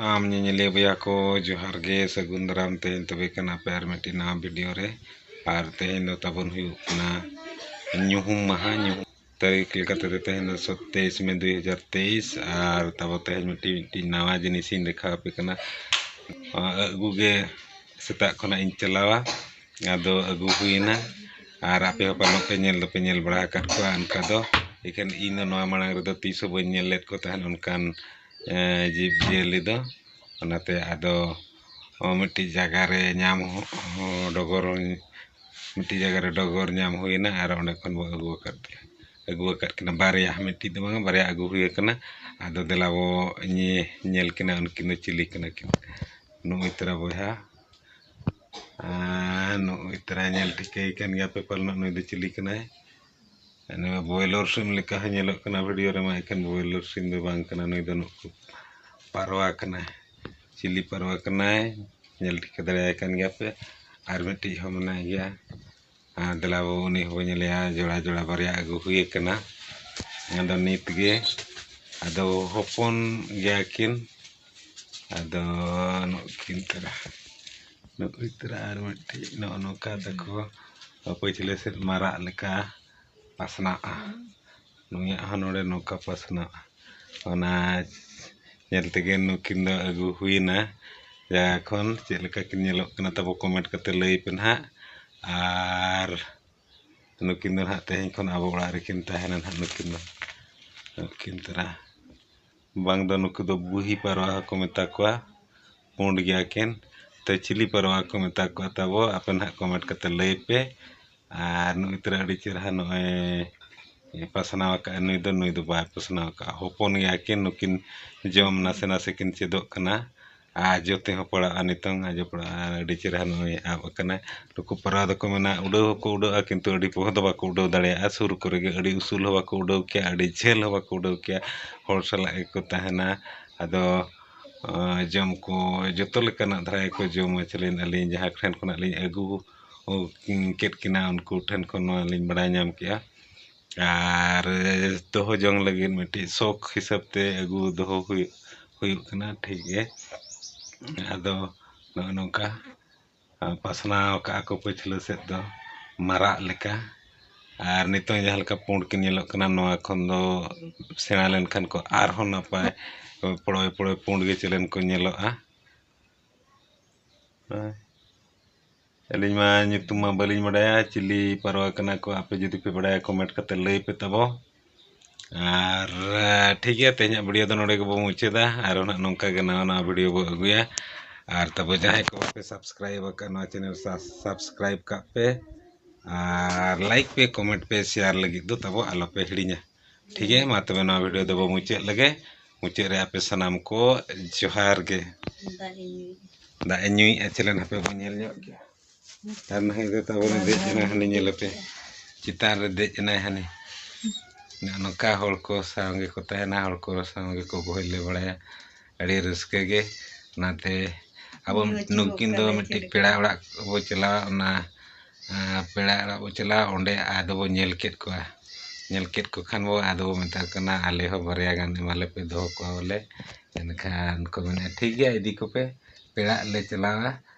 ᱟᱢ ᱧᱮᱧᱮᱞᱤᱭᱟᱹ ᱵᱚᱭᱦᱟ ᱠᱚ ᱡᱚᱦᱟᱨ ᱜᱮ ᱥᱟᱹᱜᱩᱱ ᱫᱟᱨᱟᱢ ᱛᱮᱦᱮᱧ ᱛᱚᱵᱮ ᱠᱷᱟᱱ ᱟᱯᱮ ᱟᱨ ᱢᱤᱫᱴᱤᱡ ᱱᱟᱣᱟ ᱵᱷᱤᱰᱤᱭᱳ ᱨᱮ ᱟᱨ ᱛᱮᱦᱮᱧ ᱫᱚ ᱛᱟᱵᱚᱱ ᱦᱩᱭᱩᱜ ᱠᱟᱱᱟ ᱧᱩᱦᱩᱢ ᱢᱟᱦᱟ ᱧᱩᱦᱩᱢ ᱛᱟᱹᱨᱤᱠᱷ ᱞᱮᱠᱟ ᱛᱮᱫᱚ ᱛᱮᱦᱮᱧ ᱫᱚ ᱥᱚᱛᱮᱭᱤᱥ ᱢᱮ ᱫᱩᱭ ᱦᱟᱡᱟᱨ ᱛᱮᱭᱤᱥ ᱟᱨ ᱛᱟᱵᱚ ᱛᱮᱦᱮᱧ ᱢᱤᱫᱴᱤᱡ ᱢᱤᱫᱴᱤᱡ ᱱᱟᱣᱟ ᱡᱤᱱᱤᱥ ᱤᱧ ᱫᱮᱠᱷᱟᱣ ᱟᱯᱮ ᱠᱟᱱᱟ ᱟᱹᱜᱩ ᱜᱮ ᱥᱮᱛᱟᱜ ᱠᱷᱚᱱᱟᱜ ᱤᱧ ᱪᱟᱞᱟᱣᱟ ᱟᱫᱚ ᱟᱹᱜᱩ ᱦᱩᱭᱮᱱᱟ ᱟᱨ ᱟᱯᱮ ᱦᱚᱸ ᱯᱟᱞᱮᱱ ᱯᱮ ᱧᱮᱞ ᱫᱚᱯᱮ ᱧᱮᱞ ᱵᱟᱲᱟ ᱟᱠᱟᱫ ᱠᱚᱣᱟ ᱚᱱᱠᱟ ᱫᱚ ᱤᱠᱷᱟᱹᱱ ᱤᱧ ᱫᱚ ᱱᱚᱣᱟ ᱢᱟᱲᱟᱝ ᱨᱮᱫᱚ ᱛᱤᱥ ᱦᱚᱸ ᱵᱟᱹᱧ ᱧᱮᱞ ᱞᱮᱫ ᱠᱚ ᱛᱟᱦᱮᱸᱫ ᱚᱱᱠᱟᱱ ᱡᱤᱵᱽ ᱡᱤᱭᱟᱹᱞᱤ ᱫᱚ ᱚᱱᱟᱛᱮ ᱟᱫᱚ ᱢᱤᱫᱴᱤᱡ ᱡᱟᱭᱜᱟ ᱨᱮ ᱧᱟᱢ ᱦᱚᱸ ᱰᱚᱜᱚᱨ ᱢᱤᱫᱴᱤᱡ ᱡᱟᱭᱜᱟ ᱨᱮ ᱰᱚᱜᱚᱨ ᱧᱟᱢ ᱦᱩᱭᱱᱟ ᱟᱨ ᱚᱸᱰᱮ ᱠᱷᱚᱱ ᱵᱚᱱ ᱟᱹᱜᱩ ᱟᱠᱟᱫ ᱠᱤᱱᱟ ᱟᱹᱜᱩ ᱟᱠᱟᱫ ᱠᱤᱱᱟ ᱵᱟᱨᱭᱟ ᱢᱤᱫᱴᱤᱡ ᱫᱚ ᱵᱟᱝᱟ ᱵᱟᱨᱭᱟ ᱟᱹᱜᱩ ᱦᱩᱭ ᱠᱟᱱᱟ ᱟᱫᱚ ᱫᱮᱞᱟ ᱵᱚ ᱧᱮᱞ ᱠᱤᱱᱟ ᱩᱱᱠᱤᱱ ᱫᱚ ᱪᱤᱞᱤ ᱠᱟᱱᱟ ᱠᱤᱱ ᱱᱩᱜᱼᱩᱭ ᱛᱚᱨᱟ ᱵᱚᱭᱦᱟ ᱟᱨ ᱱᱩᱜᱼᱩᱭ ᱛᱚᱨᱟ ᱧᱮᱞ ᱴᱷᱤᱠᱟᱹᱭᱮ ᱠᱟᱱ ᱜᱮᱭᱟᱯᱮ ᱯᱟᱞᱮᱱᱚᱜ ᱱᱩᱭ ᱫᱚ ᱪᱤᱞᱤ ᱠᱟᱱᱟᱭ ᱩᱱᱤ ᱢᱟ ᱵᱚᱭᱞᱚᱨ ᱥᱤᱢ ᱞᱮᱠᱟ ᱦᱚᱸ ᱧᱮᱞᱚᱜ ᱠᱟᱱᱟ ᱵᱷᱤᱰᱤᱭᱳ ᱨᱮᱢᱟ ᱮᱠᱷᱮᱱ ᱵᱚᱭᱞᱚᱨ ᱥᱤᱢ ᱫᱚ ᱵᱟᱝ ᱠᱟᱱᱟ ᱱᱩᱭ ᱫᱚ ᱱᱩᱠᱩ ᱯᱟᱨᱣᱟ ᱠᱟᱱᱟᱭ ᱪᱤᱞᱤ ᱯᱟᱨᱣᱟ ᱠᱟᱱᱟᱭ ᱧᱮᱞ ᱴᱷᱤᱠᱟᱹ ᱫᱟᱲᱮᱭᱟᱭ ᱠᱟᱱ ᱜᱮᱭᱟ ᱯᱮ ᱟᱨ ᱢᱤᱫᱴᱤᱡ ᱦᱚᱸ ᱢᱮᱱᱟᱭ ᱜᱮᱭᱟ ᱟᱨ ᱫᱮᱞᱟ ᱵᱟᱹᱵᱩ ᱩᱱᱤ ᱦᱚᱸᱵᱚᱱ ᱧᱮᱞᱮᱭᱟ ᱡᱚᱲᱟ ᱡᱚᱲᱟ ᱵᱟᱨᱭᱟ ᱟᱹᱜᱩ ᱦᱩᱭ ᱠᱟᱱᱟ ᱟᱫᱚ ᱱᱤᱛ ᱜᱮ ᱟᱫᱚ ᱦᱚᱯᱚᱱ ᱜᱮᱭᱟ ᱠᱤᱱ ᱟᱫᱚ ᱱᱩᱠᱤᱱ ᱛᱚᱨᱟ ᱱᱩᱠᱤᱱ ᱛᱚᱨᱟ ᱟᱨ ᱢᱤᱫᱴᱤᱡ ᱱᱚᱜᱼᱚ ᱱᱚᱝᱠᱟ ᱛᱟᱠᱚ ᱯᱟᱹᱪᱷᱞᱟᱹ ᱥᱮᱫ ᱢᱟᱨᱟᱜ ᱞᱮᱠᱟ ᱯᱟᱥᱱᱟᱜᱼᱟ ᱱᱩᱭᱟᱜ ᱦᱚᱸ ᱱᱚᱰᱮ ᱱᱚᱝᱠᱟ ᱯᱟᱥᱱᱟᱜᱼᱟ ᱚᱱᱟ ᱧᱮᱞ ᱛᱮᱜᱮ ᱱᱩᱠᱤᱱ ᱫᱚ ᱟᱹᱜᱩ ᱦᱩᱭᱮᱱᱟ ᱡᱟᱭᱜᱟ ᱠᱷᱚᱱ ᱪᱮᱫ ᱞᱮᱠᱟ ᱠᱤᱱ ᱧᱮᱞᱚᱜ ᱠᱟᱱᱟ ᱛᱟᱵᱚ ᱠᱚᱢᱮᱱᱴ ᱠᱟᱛᱮᱫ ᱞᱟᱹᱭ ᱯᱮ ᱱᱟᱦᱟᱜ ᱟᱨ ᱱᱩᱠᱤᱱ ᱫᱚ ᱱᱟᱦᱟᱜ ᱛᱮᱦᱮᱧ ᱠᱷᱚᱱ ᱟᱵᱚ ᱚᱲᱟᱜ ᱨᱮᱠᱤᱱ ᱛᱟᱦᱮᱱᱟ ᱱᱟᱦᱟᱜ ᱱᱩᱠᱤᱱ ᱫᱚ ᱱᱩᱠᱤᱱ ᱛᱚᱨᱟ ᱵᱟᱝ ᱫᱚ ᱱᱩᱠᱩ ᱫᱚ ᱵᱩᱦᱤ ᱯᱟᱨᱣᱟ ᱦᱚᱸᱠᱚ ᱢᱮᱛᱟ ᱠᱚᱣᱟ ᱯᱩᱸᱰ ᱜᱮᱭᱟ ᱠᱤᱱ ᱛᱚ ᱪᱤᱞᱤ ᱯᱟᱨᱣᱟ ᱠᱚ ᱢᱮᱛᱟ ᱠᱚᱣᱟ ᱛᱟᱵᱚ ᱟᱯᱮ ᱱᱟᱜ ᱠᱚᱢᱮᱱᱴ ᱠᱟᱛᱮ ᱞᱟᱹᱭ ᱯᱮ ᱟᱨ ᱱᱩᱜᱼᱩᱭ ᱛᱚᱨᱟ ᱟᱹᱰᱤ ᱪᱮᱨᱦᱟ ᱱᱚᱜᱼᱚᱭ ᱯᱟᱥᱱᱟᱣ ᱟᱠᱟᱫᱼᱟᱭ ᱱᱩᱭ ᱫᱚ ᱱᱩᱭ ᱫᱚ ᱵᱟᱭ ᱯᱟᱥᱱᱟᱣ ᱟᱠᱟᱫᱼᱟ ᱦᱚᱯᱚᱱ ᱜᱮᱭᱟ ᱠᱤᱱ ᱱᱩᱠᱤᱱ ᱡᱚᱢ ᱱᱟᱥᱮ ᱱᱟᱥᱮ ᱠᱤᱱ ᱪᱮᱫᱚᱜ ᱠᱟᱱᱟ ᱟᱨ ᱡᱚᱛᱚ ᱦᱚᱸ ᱯᱟᱲᱟᱜᱼᱟ ᱱᱤᱛᱚᱝ ᱟᱜ ᱡᱚᱛᱚ ᱯᱟᱲᱟᱜᱼᱟ ᱟᱹᱰᱤ ᱪᱮᱦᱨᱟ ᱱᱚᱜᱼᱚᱸᱭ ᱟᱵ ᱠᱟᱱᱟᱭ ᱱᱩᱠᱩ ᱯᱟᱣᱨᱟ ᱫᱚᱠᱚ ᱢᱮᱱᱟ ᱩᱰᱟᱹᱣ ᱦᱚᱸᱠᱚ ᱩᱰᱟᱹᱜᱼᱟ ᱠᱤᱱᱛᱩ ᱟᱹᱰᱤ ᱯᱚᱦᱚ ᱫᱚ ᱵᱟᱠᱚ ᱩᱰᱟᱹᱣ ᱫᱟᱲᱮᱭᱟᱜᱼᱟ ᱥᱩᱨ ᱠᱚᱨᱮ ᱜᱮ ᱟᱹᱰᱤ ᱩᱥᱩᱞ ᱦᱚᱸ ᱵᱟᱠᱚ ᱩᱰᱟᱹᱣ ᱠᱮᱭᱟ ᱟᱹᱰᱤ ᱡᱷᱟᱹᱞ ᱦᱚᱸ ᱵᱟᱠᱚ ᱩᱰᱟᱹᱣ ᱠᱮᱭᱟ ᱦᱚᱲ ᱥᱟᱞᱟᱜ ᱜᱮᱠᱚ ᱛᱟᱦᱮᱱᱟ ᱟᱫᱚ ᱡᱚᱢ ᱠᱚ ᱡᱚᱛᱚ ᱞᱮᱠᱟᱱᱟᱜ ᱫᱷᱟᱨᱟ ᱜᱮᱠᱚ ᱡᱚᱢᱟ ᱪᱮᱞᱮᱱ ᱟᱹᱞᱤᱧ ᱡᱟᱦᱟᱸ ᱴᱷᱮᱱ ᱠᱷᱚᱱᱟᱜ ᱞᱤᱧ ᱟᱹᱜᱩ ᱠᱮᱫ ᱠᱤᱱᱟ ᱩᱱᱠᱩ ᱴᱷᱮᱱ ᱠᱷᱚᱱ ᱱᱚᱣᱟ ᱞᱤᱧ ᱵᱟᱲᱟᱭ ᱧᱟᱢ ᱠᱮᱜᱼᱟ ᱟᱨ ᱫᱚᱦᱚ ᱡᱚᱝ ᱞᱟᱹᱜᱤᱫ ᱢᱤᱫᱴᱤᱡ ᱥᱚᱠ ᱦᱤᱥᱟᱹᱵ ᱛᱮ ᱟᱹᱜᱩ ᱫᱚᱦᱚ ᱦᱩᱭᱩᱜ ᱦᱩᱭᱩᱜ ᱠᱟᱱᱟ ᱴᱷᱤᱠ ᱜᱮ ᱟᱫᱚ ᱱᱚᱜᱼᱚᱸᱭ ᱱᱚᱝᱠᱟ ᱯᱟᱥᱱᱟᱣ ᱠᱟᱜᱼᱟ ᱠᱚ ᱯᱟᱹᱪᱷᱞᱟᱹ ᱥᱮᱫ ᱫᱚ ᱢᱟᱨᱟᱜ ᱞᱮᱠᱟ ᱟᱨ ᱱᱤᱛᱚᱜ ᱡᱟᱦᱟᱸ ᱞᱮᱠᱟ ᱯᱩᱸᱰ ᱠᱤᱱ ᱧᱮᱞᱚᱜ ᱠᱟᱱᱟ ᱱᱚᱣᱟ ᱠᱷᱚᱱ ᱫᱚ ᱥᱮᱬᱟ ᱞᱮᱱᱠᱷᱟᱱ ᱠᱚ ᱟᱨᱦᱚᱸ ᱱᱟᱯᱟᱭ ᱯᱚᱲᱚᱭ ᱯᱚᱲᱚᱭ ᱯᱩᱸᱰ ᱜᱮ ᱪᱮᱞᱮᱱ ᱠᱚ ᱧᱮᱞᱚᱜᱼᱟ ᱦᱮᱸ ᱟᱹᱞᱤᱧ ᱢᱟ ᱧᱩᱛᱩᱢ ᱢᱟ ᱵᱟᱹᱞᱤᱧ ᱵᱟᱰᱟᱭᱟ ᱪᱤᱞᱤ ᱯᱟᱣᱨᱟ ᱠᱟᱱᱟ ᱠᱚ ᱟᱯᱮ ᱡᱩᱫᱤ ᱯᱮ ᱵᱟᱰᱟᱭᱟ ᱠᱚᱢᱮᱱᱴ ᱠᱟᱛᱮᱫ ᱞᱟᱹᱭ ᱯᱮ ᱛᱟᱵᱚ ᱟᱨ ᱴᱷᱤᱠ ᱜᱮᱭᱟ ᱛᱮᱦᱮᱧᱟᱜ ᱵᱷᱤᱰᱤᱭᱳ ᱫᱚ ᱱᱚᱰᱮ ᱜᱮᱵᱚᱱ ᱢᱩᱪᱟᱹᱫᱟ ᱟᱨ ᱦᱚᱸ ᱱᱟᱦᱟᱜ ᱱᱚᱝᱠᱟ ᱜᱮ ᱱᱟᱣᱟ ᱱᱟᱣᱟ ᱵᱷᱤᱰᱤᱭᱳ ᱵᱚᱱ ᱟᱹᱜᱩᱭᱟ ᱟᱨ ᱛᱟᱵᱚ ᱡᱟᱦᱟᱸᱭ ᱠᱚ ᱵᱟᱯᱮ ᱥᱟᱵᱥᱠᱨᱟᱭᱤᱵᱽ ᱟᱠᱟᱫ ᱱᱚᱣᱟ ᱪᱮᱱᱮᱞ ᱥᱟᱵᱥᱠᱨᱟᱭᱤᱵᱽ ᱠᱟᱜ ᱯᱮ ᱟᱨ ᱞᱟᱭᱤᱠ ᱯᱮ ᱠᱚᱢᱮᱱᱴ ᱯᱮ ᱥᱮᱭᱟᱨ ᱞᱟᱹᱜᱤᱫ ᱫᱚ ᱛᱟᱵᱚ ᱟᱞᱚ ᱯᱮ ᱦᱤᱲᱤᱧᱟ ᱴᱷᱤᱠ ᱜᱮᱭᱟ ᱢᱟ ᱛᱚᱵᱮ ᱱᱚᱣᱟ ᱵᱷᱤᱰᱤᱭᱳ ᱫᱚᱵᱚ ᱢᱩᱪᱟᱹᱫ ᱞᱮᱜᱮ ᱢᱩᱪᱟᱹᱫ ᱨᱮ ᱟᱯᱮ ᱥᱟᱱᱟᱢ ᱠᱚ ᱡᱚᱦᱟᱨ ᱜᱮ ᱫᱟᱜ ᱮ ᱧᱩᱭᱮᱫᱼᱟ ᱪᱮᱞᱮᱱ ᱦᱟᱯᱮ ᱵᱚᱱ ᱧᱮᱞ ᱧᱚᱜ ᱜᱮᱭᱟ ᱟᱨ ᱱᱟᱦᱟᱜ ᱫᱚ ᱛᱟᱵᱚᱱᱮ ᱫᱮᱡ ᱮᱱᱟ ᱦᱟᱹᱱᱤ ᱧᱮᱞ ᱟᱯᱮ ᱪᱮᱛᱟᱱ ᱨᱮ ᱫᱮᱡ ᱮᱱᱟᱭ ᱦᱟᱹᱱᱤ ᱱᱚᱝᱠᱟ ᱦᱚᱲ ᱠᱚ ᱥᱟᱶ ᱜᱮᱠᱚ ᱛᱟᱦᱮᱱᱟ ᱦᱚᱲ ᱠᱚ ᱥᱟᱶ ᱜᱮᱠᱚ ᱵᱚᱦᱮᱞ ᱵᱟᱲᱟᱭᱟ ᱟᱹᱰᱤ ᱨᱟᱹᱥᱠᱟᱹ ᱜᱮ ᱚᱱᱟᱛᱮ ᱟᱵᱚ ᱱᱩᱠᱤᱱ ᱫᱚ ᱢᱤᱫᱴᱤᱡ ᱯᱮᱲᱟ ᱚᱲᱟᱜ ᱵᱚ ᱪᱟᱞᱟᱣ ᱚᱱᱟ ᱯᱮᱲᱟ ᱚᱲᱟᱜ ᱵᱚ ᱪᱟᱞᱟᱣ ᱚᱸᱰᱮ ᱟᱫᱚ ᱵᱚ ᱧᱮᱞ ᱠᱮᱫ ᱠᱚᱣᱟ ᱧᱮᱞ ᱠᱮᱫ ᱠᱚ ᱠᱷᱟᱱ ᱵᱚ ᱟᱫᱚ ᱵᱚ ᱢᱮᱛᱟ ᱠᱚ ᱠᱟᱱᱟ ᱟᱞᱮ ᱦᱚᱸ ᱵᱟᱨᱭᱟ ᱜᱟᱱ ᱮᱢᱟ ᱞᱮᱯᱮ ᱫᱚᱦᱚ ᱠᱚᱣᱟ ᱵᱚᱞᱮ ᱮᱱᱠᱷᱟᱱ ᱠᱚ ᱢᱮᱱᱮᱜᱼᱟ ᱴᱷᱤᱠ ᱜᱮᱭᱟ ᱤᱫᱤ ᱠᱚᱯᱮ ᱯᱮᱲᱟᱜ ᱞᱮ ᱪᱟᱞᱟᱣᱟ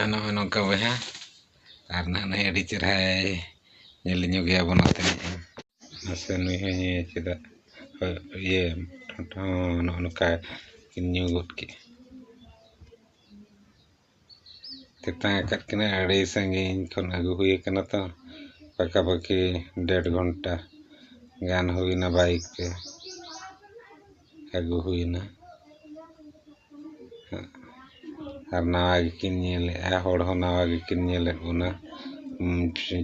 ᱟᱨ ᱱᱚᱜᱼᱚᱭ ᱱᱚᱝᱠᱟ ᱵᱚᱭᱦᱟ ᱟᱨ ᱱᱟᱦᱟᱜ ᱱᱩᱭ ᱟᱹᱰᱤ ᱪᱮᱨᱦᱟᱭ ᱧᱮᱞ ᱧᱚᱜ ᱜᱮᱭᱟ ᱵᱚᱱ ᱱᱚᱛᱮ ᱨᱤᱱᱤᱡ ᱦᱚᱸ ᱢᱟᱥᱮ ᱱᱩᱭ ᱦᱚᱸ ᱧᱩᱭᱟᱭ ᱪᱮᱫᱟᱜ ᱦᱳᱭ ᱤᱭᱟᱹ ᱴᱷᱚᱸᱴ ᱦᱚᱸ ᱱᱚᱜᱼᱚ ᱱᱚᱝᱠᱟ ᱠᱤᱱ ᱧᱩ ᱜᱚᱫ ᱠᱮᱫᱼᱟ ᱛᱮᱛᱟᱝ ᱟᱠᱟᱫ ᱠᱤᱱᱟᱹ ᱟᱹᱰᱤ ᱥᱟᱺᱜᱤᱧ ᱠᱷᱚᱱ ᱟᱹᱜᱩ ᱦᱩᱭ ᱟᱠᱟᱱᱟ ᱛᱚ ᱯᱟᱠᱟᱼᱯᱟᱠᱤ ᱰᱮᱹᱲ ᱜᱷᱚᱱᱴᱟ ᱜᱟᱱ ᱦᱩᱭᱱᱟ ᱵᱟᱭᱤᱠ ᱛᱮ ᱟᱹᱜᱩ ᱦᱩᱭᱮᱱᱟ ᱟᱨ ᱱᱟᱣᱟ ᱜᱮᱠᱤᱱ ᱧᱮᱞᱮᱫᱼᱟ ᱦᱚᱲ ᱦᱚᱸ ᱱᱟᱣᱟ ᱜᱮᱠᱤᱱ ᱧᱮᱞᱮᱫ ᱵᱚᱱᱟ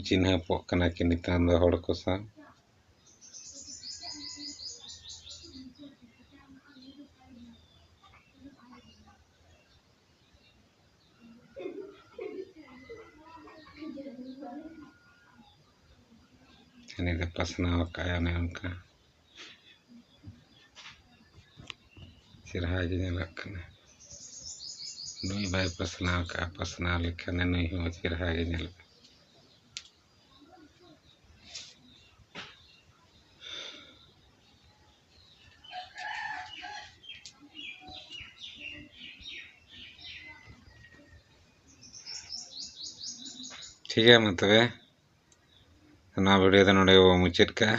ᱪᱤᱱᱦᱟᱹᱯᱚᱜ ᱠᱟᱱᱟ ᱠᱤᱱ ᱱᱤᱛᱚᱝ ᱫᱚ ᱦᱚᱲ ᱠᱚ ᱥᱟᱶ ᱩᱱᱤ ᱫᱚ ᱯᱟᱥᱱᱟᱣ ᱟᱠᱟᱫᱼᱟᱭ ᱚᱱᱮ ᱚᱱᱠᱟ ᱪᱮᱨᱦᱟ ᱜᱮ ᱧᱮᱞᱚᱜ ᱠᱟᱱᱟ ᱱᱩᱭ ᱵᱟᱭ ᱯᱟᱥᱱᱟᱣ ᱠᱟᱜᱼᱟ ᱯᱟᱥᱱᱟᱣ ᱞᱮᱠᱷᱟᱱᱮ ᱱᱩᱭ ᱦᱚᱸ ᱪᱮᱨᱦᱟ ᱜᱮ ᱧᱮᱞᱚᱜᱼᱟ ᱴᱷᱤᱠ ᱜᱮᱭᱟ ᱢᱟ ᱛᱚᱵᱮ ᱚᱱᱟ ᱵᱷᱤᱰᱤᱭᱳ ᱫᱚ ᱱᱚᱰᱮ ᱜᱮᱵᱚᱱ ᱢᱩᱪᱟᱹᱫ ᱠᱟᱜᱼᱟ